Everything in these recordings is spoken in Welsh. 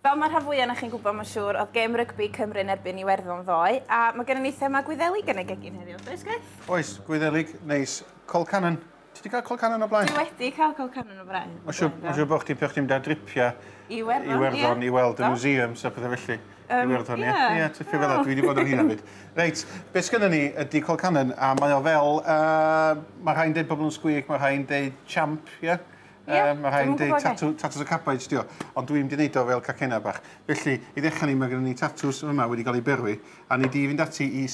Fel mae rhan fwy o'na chi'n gwybod, mae'n siŵr, oedd gêm rygbi Cymru yn erbyn Iwerddon ddoe, a mae gennym ni thema Gwyddelig yn y gegin heddiw, does Griff? Oes, Gwyddelig, neis. Col Cannon. Ti wedi cael Col Cannon o blaen? Ti wedi cael Col Cannon o blaen. Mae'n siŵr, ma siŵr bod chdi'n peth chdi'n da dripiau Iwerddon, Iwerddon yeah. i weld y museums a pethau felly. Um, Iwerddon, ie. Yeah. Ie, yeah, tipio fel dwi wedi bod yn hyn hefyd. Reit, beth sgynny ni ydy Col Cannon, a mae o fel, uh, mae rhai'n dweud pobl yn sgwig, mae rhai'n dweud champ, ie? Yeah? Ie, um, mae rhaid deud tatws tatws y cabbage dio, ond dwi'n wedi neud o fel cacena bach. Felly, i ddechrau ni, mae gennym ni tatws yma wedi cael ei berwi, a ni di fynd ati i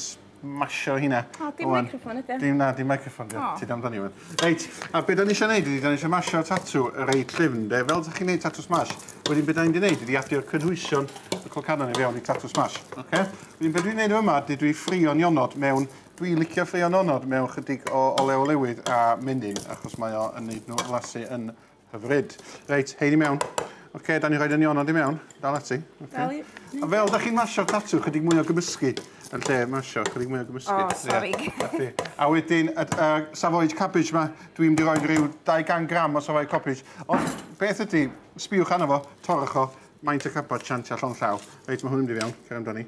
masio hynna. O, dim Oan. microphone ydy. Dim na, dim microphone dio. Oh. Ti dam dan i wan. Reit, a beth da ni eisiau neud ydy, da ni eisiau masio tatw y reit llyfn, de. Fel ydych chi'n neud tatws mash, wedyn beth da ni'n neud ydy adio cynhwysion y colcannon i fewn i tatws mash. Okay? Wedyn beth dwi'n neud yma ydy dwi ffrio'n ionod mewn Dwi'n licio ffeio nonod mewn chydig o olew olewydd a menyn, achos mae o yn neud nhw flasu yn hyfryd. Reit, hein i mewn. Oce, da ni'n rhoi'r nionod i mewn. Dal ati. Dal i. A fel da chi'n masio'r tatw, chydig mwy o gymysgu yn lle masio, chydig mwy o gymysgu. O, sori. A wedyn, y savoyage cabbage yma, dwi'n mynd i roi rhyw 200 gram o savoyage cabbage. Ond beth ydy, sbiwch arno fo, torrwch o, maint y cabot, siant a llond llaw. Reit, mae hwn yn mynd i fewn, cer amdani.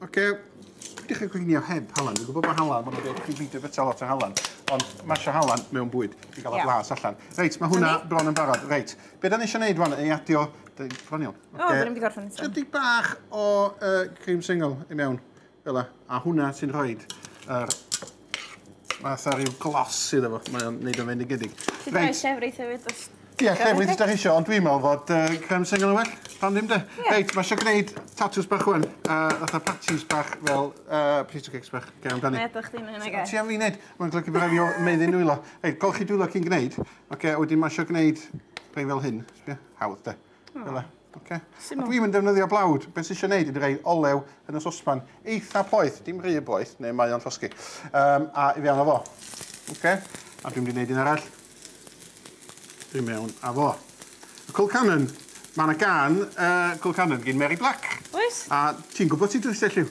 Ok, peidiwch â gweini o heb halan. Dwi'n gwybod bod halan, maen nhw'n dweud chi beidio bwyta lot o halan, ond mae eisiau halan mewn bwyd i gael y blas allan. Reit, mae hwnna bron yn barod. Reit, be da ni eisiau gwneud rwan, ei adio... Bron iawn. O, dyn ni'n gorffen eto. Chydig bach o uh, cream single i mewn, fel a hwnna sy'n rhoi yr Fatha rhyw glos iddo fo, mae o'n neud o'n fendigedig. Ti dau Reit. llefrith hefyd os... Ie, llefrith os 'dach chi isio, ond dwi'n meddwl fod yy creme sengl yn well. Pam ddim de? Ie. Reit, ma' isio gneud tatws bach ŵan, a fatha patches bach fel yy piece of cakes bach. Cer amdani. Be' ydach chdi'n neud nage? Ti am fi neud? Ma'n golygu bo' rai' fi o- meddu nwylo. Reit, golchi dwylo cyn gneud. Oce, a wedyn ma' isio gneud rhei fel hyn. Sbia. Hawdd de? Fela, oce. A dwi'm yn defnyddio blawd. Beth sy'n eisiau gwneud ydy rhoi olew yn y sosban eitha poeth, dim rhy boeth, neu mae o'n llosgi. Um, a i fewn o fo. Oce. A dwi'n mynd i wneud un arall. Dwi'n mewn a fo. Y Cool Cannon. Mae yna gan uh, Cool Cannon gyn Mary Black. Oes. A ti'n gwybod sut dwi'n selliw.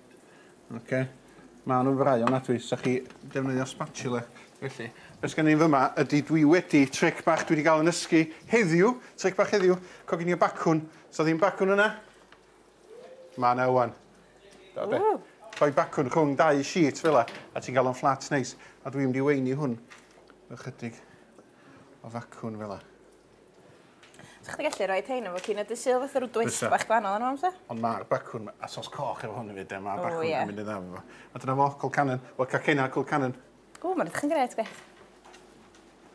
Oce. Maen nhw'n frai ofnadwy, os ydych chi defnyddio spatula. Felly, be sgen i fyma ydy dwi wedi tric bach dwi wedi cael yn ysgu heddiw, tric bach heddiw, coginio bacwn. Sa ddim bacwn yna? Mae yna wan. Da be? Rhoi bacwn rhwng dau sheet fel la, a ti'n cael o'n flat neis. A dwi'n mynd i weini hwn ychydig o facwn fel la. Sa chdi gallu rhoi rhein efo cyn y dy sul fatha rw dwist Bysa. bach gwahanol arno fo bysa? Ond ma'r bacwn, a sos coch efo hwn hefyd de, ma'r O, bacwn ie. yn mynd yn dda efo fo. A dyna fo, Colcannon. Wel, Cacennau a Colcannon. Ww, ma'n edrych yn grêt, gweith.